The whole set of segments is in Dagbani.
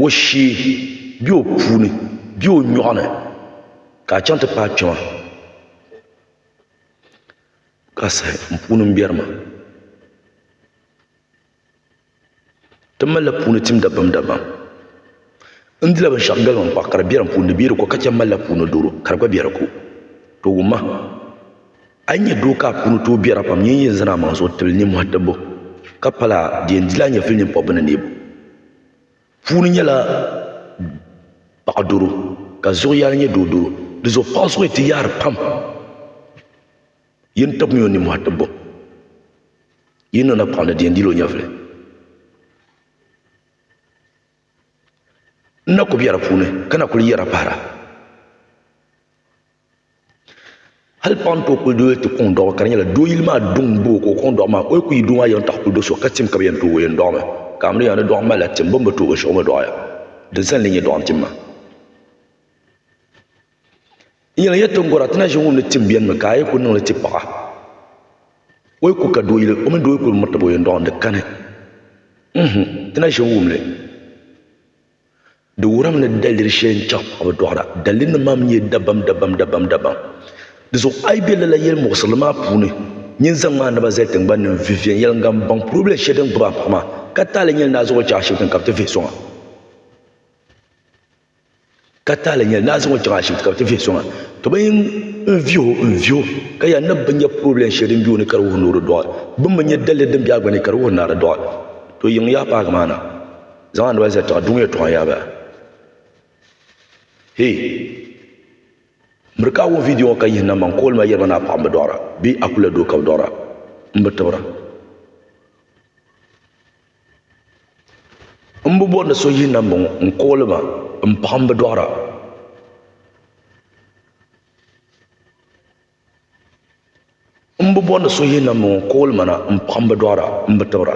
o shee bɛ o puuni bɛ o nyoɣu ni ka a chaŋ ti paai kpɛma ka saha n puuni n biɛri maa ti malila puuni tim dabam dabam n dila binshaɣu galiba n kpahi ka di bɛ di ko ka chɛ n malila puuni doro ka di gba bɛ di ko di wumma A yi nyɛ doo ka a puuni tooi biɛra pam, nyin yi yɛn zaŋ a maŋ zuɣu tibili ninmɔhi tibbu, ka pala di yɛn dila a nyɛvili nini pɔbbu ni neebu puuni nyɛla paɣ doro, ka zuɣu yaali nyɛ doo doro, di zuɣu paɣ zuɣu ti yaari pam. Yin tibimi o ninmɔhi tibbu, yi ni niŋ napaɣ ni di yɛn dila o nyɛvili. N na ku biɛra puuni, ka na kuli yɛra pahira. hali paɣa n tooi kuli doli ti kuŋ dɔɣu ka di nyɛla doo yili maa duŋ n boo ka o kuŋ dɔɣu maa o yi kuli yi doo maa yɛn taɣi kuli do so ka tim ka bi yɛn tooi yɛn dɔɣi mi ka a mi yɛli ni dɔɣu mali la tim bini bi tooi binshaɣu o mi dɔɣi ya di zali ni nyɛ dɔɣu n tim maa n yɛn lahi yɛli ti ni gɔra ti na ʒe ŋun ni tim bɛni mi ka a yi kuli niŋ li ti paɣa o yi kuli ka doo yili o mini doo yi kuli miri taba o yɛn dɔɣi ni di kani ti na ʒe n wum li. Di wurim ni daliri shɛli n-chaŋ ka bɛ dɔɣira. Dalirinima maa mi nyɛla dabam dabam dabam dabam. Dinzuɣu a yi be lala yɛlimuɣisirili maa puuni, nyin zaŋm a naba zali tiŋgbani ni n-viviɛn yɛliŋga m-baŋ purebila shɛli din gbibi a paɣa maa, ka taali nyɛli ni a zaŋ o chaŋ ashibiti ni ka bɛ ti vihi sɔŋ a. Ka taali nyɛli ni a zaŋ o chaŋ ashibiti ka bɛ ti vihi sɔŋ a. Ka bɛ yin vihi o n-vihi o, ka yɛli ni bɛ nya purebila shɛli din be o ni ka di wuhi ni o di dɔɣi. Bɛ mi nya daliri din be a gba ni ka di wuhi ni a di dɔɣi. To yiŋ yaa paagi maa na. Zaŋ a naba zali tiŋa duŋ yɛltɔɣa yaaba. Hey! Miri ka a wum vidiyo ŋɔ ka yihi namba n kooli ma yɛli ma ni a paɣa m bi dɔɣira bee a kuli a doo ka bi dɔɣira. M bi tibira. M bi bɔri ni so yihi namba ŋɔ n kooli ma m paɣa m bi dɔɣira. M bi bɔri ni so yihina m-bɔŋɔ ka o limana m-paɣi m bi dɔɣira m bi tibira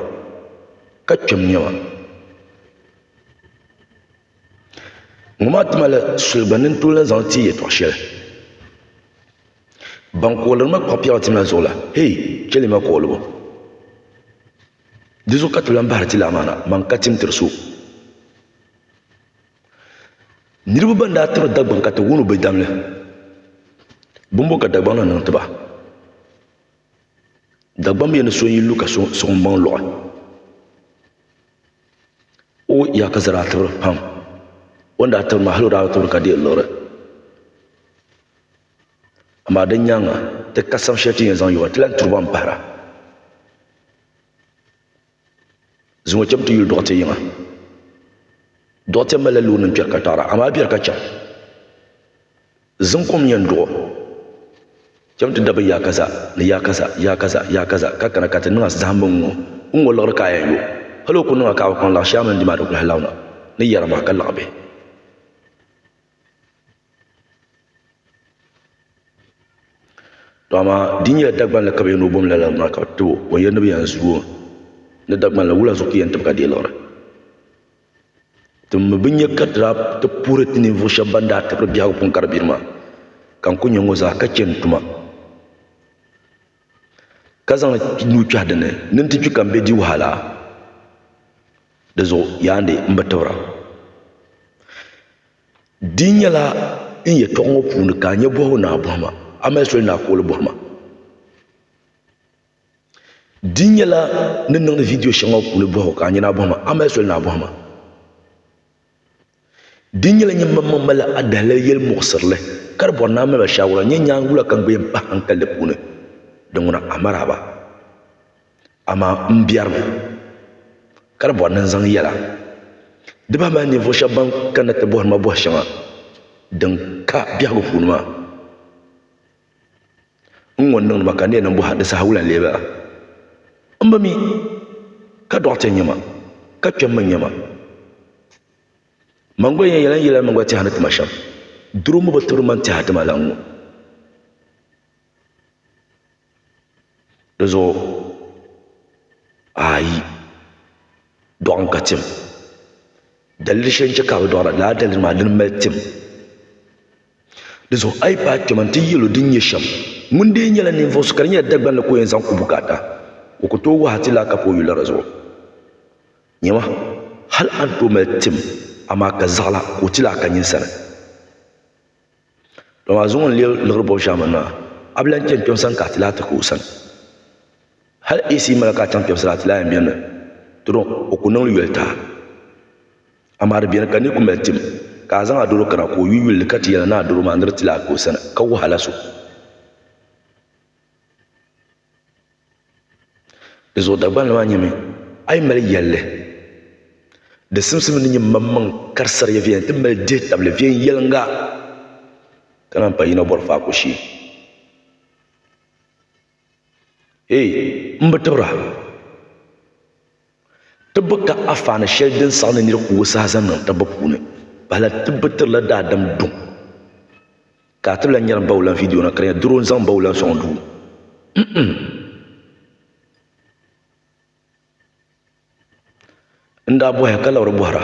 ka kpɛm nyɛ ma ŋɔ maa ti mali soli gba ni n tooi lahi zaŋ ti yi yɛtɔɣ shɛli ban kooliri ma kpuɣi piɛɣu ti ma zuɣu la hee chɛli ma kooligu di zuɣu ka ti lan bahiri ti lamaana man ka tim tiri so Niriba ban daa tiri Dagbaŋ ka ti wani o bɛ dam li, bimbo ka Dagbaŋ na niŋ ti ba? Dagbaŋ bɛ yɛn ni so n-yi lu ka suɣimbaŋ luɣi. O ya ka zara tibiri pam, o ni daa tibiri maa hali o daa bi tibiri ka di yɛn liɣiri. Amaa di nyaaŋa ti kasam shɛli ti ni yɛn zaŋ yo ba ti lahi turi ba m-pahira. Zuŋɔ chɛbu ti yuli dɔɣite yiŋa. Dɔɣite malila loonima kpɛri ka taɣira amaa bɛri ka chaŋ. Zuŋ kom yɛn duɣ o. Chɛbu ti dabigi yaa kaza ni yaa kaza, yaa kaza, yaa kaza ka kana ka ti niŋ zahim bi ŋ-ŋɔ, n ŋɔ liɣiri ka a yɛn yo. Hal o ku niŋ a ka a bi kpaŋ laɣ shɛli a mini di maa di kuli halauna ni yɛra maa ka laɣ bɛ. To amaa di nyɛla Dagbanli ka bi yɛn ni o bom lala maa ka bi tib o o yɛli ni bi yɛn zu o ni Dagbanli wula zuɣu ka o yɛn tibigi a deeliɣiri ti mi bi nya ka ti daa ti puhiri ti ninvuɣu shɛba ban daa tibiri biɛhigu pun gari biri maa ka n ku nya ŋɔ zaa ka chɛ n tuma ka zaŋ nuu kpɛhi di ni ni n ti kpi ka n bɛ di wahala dizuɣu yaanidi n bi tibira Di nyɛla n yɛtɔɣa ŋɔ puuni ka a nyɛ bɔhigu naa bɔhima, a mali soli naa kooli bɔhima. Di nyɛla ni niŋdi vidiyo shɛŋa ŋɔ puuni bɔhigu ka a nyɛ naa bɔhima, a mali soli naa bɔhima. Di nyɛla nyini maŋ maŋ mali a dahalali yɛli muɣisirili ka di bɔri ni a mali ma shaawara n-nyɛ nyaangu la ka n gbilim pahi haŋkali di puuni. Di ŋuna, Amaraaba. Amaa m biɛrimi ka di bɔri ni n zaŋ yɛla di bahi mali ninvuɣ shɛb bɛn kanna ti bɔhiri ma bɔh shɛŋa din ka biɛhigu puuni maa. N ŋun niŋdi ma ka n ni yɛn niŋ bɔha di saha wula n-lee bala? M ba mi ka dɔɣite n-nyɛ ma, ka kpɛm mi n-nyɛ ma. Man gba yɛn yɛla n yɛlli ni m gba tɛha ni ti ma shɛm. Duri ŋ-ŋɔ bi tibiri ma n-tɛha ti ma la n-ŋɔ. Di zuɣu ayi dɔɣim ka tim daliri shɛli n chɛ ka a bi dɔɣira lala daliri maa dini mali tim di zuɣu a yi paai kpɛma n ti yɛli o din nyɛ shɛm ŋuni dee nyɛla ninvuɣu so ka di nyɛla Dagbanli ka o yɛn zaŋ ku bukaata o ku tooi wahu ti lahi kapi o yuli la di zuɣu nyɛma hali a ni tooi mali tim amaa ka zaɣila ka o ti lahi ka nyini sani Dɔn maa zuŋɔ n-leei liɣiri bɔbu shɛŋa mini maa, a bi lan chani kpɛm sani ka a ti lahi ti ka o sani. Hal AC mala ka a chaŋ kpɛm sani a ti lahi yɛn beni mi, to dɔn o ku niŋ li yoli taai. Amaa di beni ka ni ku mali tim ka a zaŋ a doro kana ka o yu yuli ni ka ti yɛli a ni a doro maa ni di ti lahi ka o sani ka wahala so. Di zuɣu Dagbani maa nyɛmi, A yi mali yɛlli, di simsim ni nyɛ maŋmaŋ karisariya viɛl nti mali dihitabili viɛnyɛliŋga, ka naan pa yino bɔri faaku shee. Hey! M bi tibira. Tibbu ka afaani shɛli din saɣi ni nir ku o saha zaŋ niŋ tibbu puuni. Pahila tibbu tirila daadam duŋ. Ka a tibila nyari m ba wulan vidiyo na ka di nyɛ doro n-zaŋ m ba wulan sɔŋ duu. Mh-mm. N daa bɔhiya ka labiri bɔhira,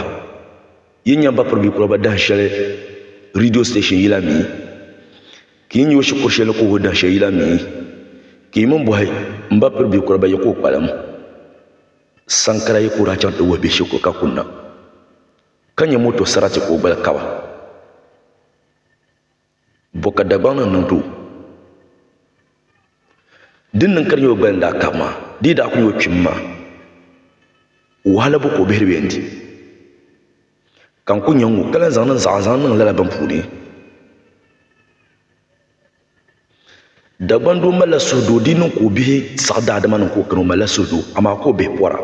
Yi nya m ba Pirbikuraba dahin shɛli riidiyo siteeshin yila mi? Ka yi nya o shikuru shɛli ni ka o ho dahin shɛli yila mi, ka yi mini bɔhi m ba piri bɛ kura ba yɛ ka o kpalim saŋkara yɛ ka o daa chaŋ ti wuhi bɛ shikuru ka kunna ka nya moto sarati ka o gbali kaba. Bɔ ka Dagbaŋ ni niŋdi o? Din niŋ ka di nya o gbali ni daa kabi maa dii daa kuli nya o kpimi maa, wahala bu ka o bihiri bɛ yɛn di? Ka n ku nya ŋ-ŋu ka lan zaŋ niŋ zaɣa zaŋ niŋ lala bini puuni. Dagbandoo malila suhudoo, di niŋ ka o bihi saɣi daadama niŋ ka o kani o malila suhudoo, amaa ka o bihi pɔra.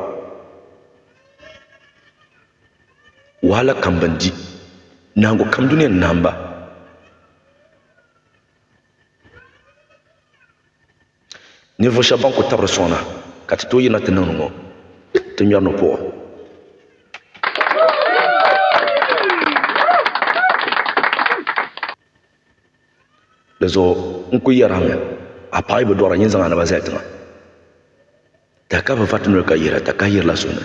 Wahala kam bɛn di, nahiŋgu kam dunia ni nahim ba. Ninvuɣu shɛba ban ku tabiri sɔŋ na ka ti tooi yirina ti niŋ ni ŋɔ, ti ŋmɛri ni puɣu. Di zuɣu n ku yɛri a mi, a paɣa yi bi dɔɣira nyin zaŋ a naba zali tiŋa. Tahi ka bi va ti noli ka yihira, ta kahi yirila so ni.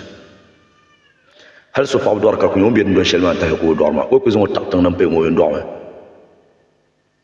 Hali so paɣa bi dɔɣira ka ku nya ŋun be dundoli shɛli maa tahi ka o dɔɣiri maa, o yi ku zaŋ o taɣi tiŋ din paya ŋɔ o yi ni dɔɣi mi.